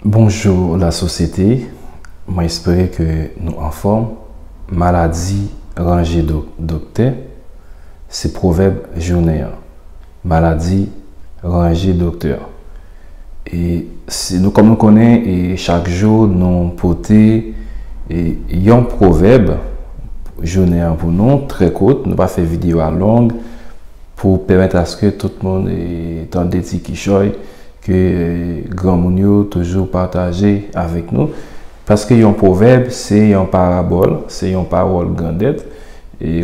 Bonjou la sosyete, mwen espere ke nou anfòm, maladi ranje do doktè, se pwovèb jounen an, maladi ranje doktè. E si nou kòm nou konnen e chak jou nou pote e yon pwovèb jounen an pou nou, trè kout, nou pa fè videyo a long, pou pèmèt aske tout moun tande ti kichòy ke granmoun yo toujou pataje avèk nou. Paske yon pwovèb se yon parabòl, se yon pawòl grandèt,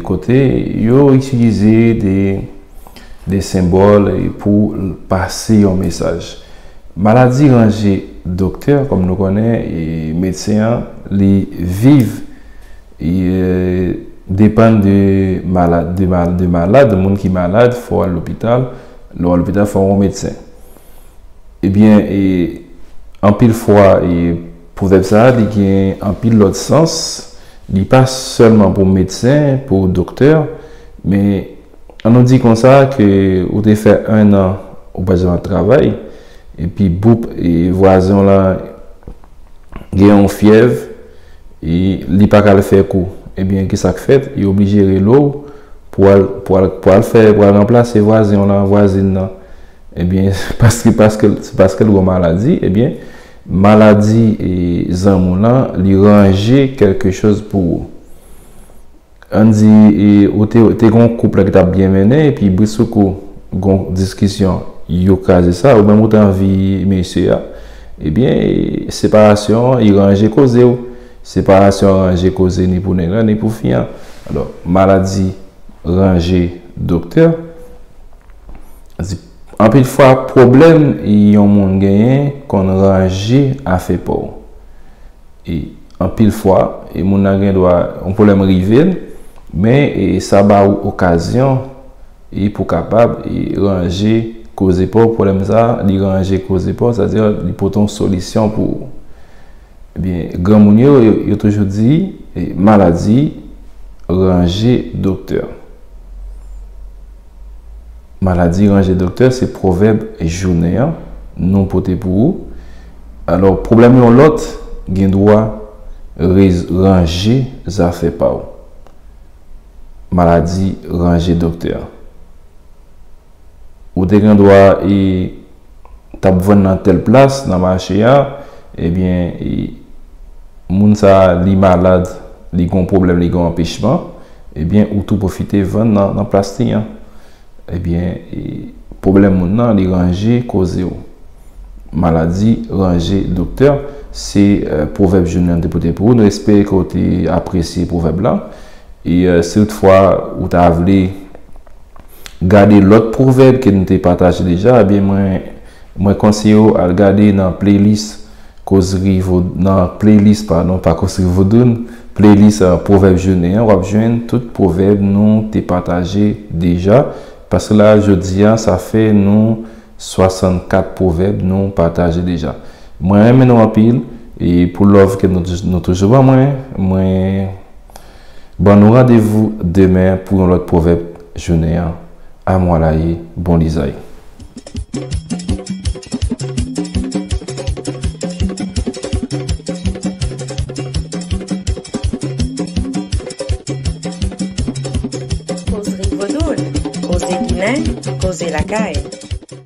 kote yo itilize de senbòl pou pase yon mesaj. Maladi ranje doktè, kòm nou konnen, medsen an li viv. Depann de malad, moun ki malad fò al lopital, lè w al lopital fò w wè medsen. Ebyen, anpil fwa pwovèb sa a li gen anpil lòt sans, li pa sèlman pou medsen, pou doktè men. An nou di konsa ke ou te fè 1 an ou pa janm ap travay, epi boup vwazen w lan gen yon fyèv, li pa ka al fè kou. Ebyen ki sa k fèt? Yo oblije rele w pou w al, pou w al, pou w al fè, pou w al ranplase vwazen w lan, vwazin nan. Ebyen paske, paske l, se paske l gen yon maladi, ebyen maladi zanmi w lan li ranje kèlke choz pou ou. Ann di ou te te gen yon koup la ki t ap byen mennen epi brisoukou gen yon diskisyon, yo kraze sa, oumenm ou te anvi mesye a, ebyen separasyon an, i ranje koze ou. Separasyon an ranje koze ni pou nèg la ni pou fi an. Alò, maladi ranje doktè. Ann di, anpil fwa pwoblèm yon moun genyen konn ranje afè pa w. E anpil fwa, e moun nan gen dwa yon pwoblèm rive l, men e sa ba ou okazyon e pou kapab e ranje koze pa w, pwoblèm sa a, li ranje koze pa w, sa di li pote yon solisyon pou ou. Ebyen, granmoun yo, yo toujou di, e maladi ranje doktè. Maladi ranje doktè se pwovèb jounen an nou pote pou ou. Alò, pwoblèm yon lòt gen dwa ranje zafè pa ou. Maladi ranje doktè. Ou te gen dwa t ap vann nan tèl plas nan mache a, ebyen moun sa li malad, li gen yon pwoblèm, li gen yon anpechman, ebyen ou tou pwofite vann nan plas li an. Ebyen pwoblèm moun nan li ranje koze w. Maladi ranje doktè, se pwovèb jounen an te pote pou ou. Nou espere ke ou te apresye pwovèb la. E si toutfwa ou ta vle. gade lòt pwovèb ke nou te pataje deja ebyen mwen mwen konseye ou al gade nan playlist kozri nan playlist padon pa kozri vodoun playlist pwovèb jounen an wap jwenn tout pwovèb nou te pataje deja paske la jodi a sa fè nou 64 pwovèb nou pataje deja mwen renmen nou anpil e pou love ke nou toujou ban mwen mwen. Ban nou randevou demen pou yon lòt pwovèb jounen an. Amwalaye, bon lizay! Koze Ginen, Koze Lakay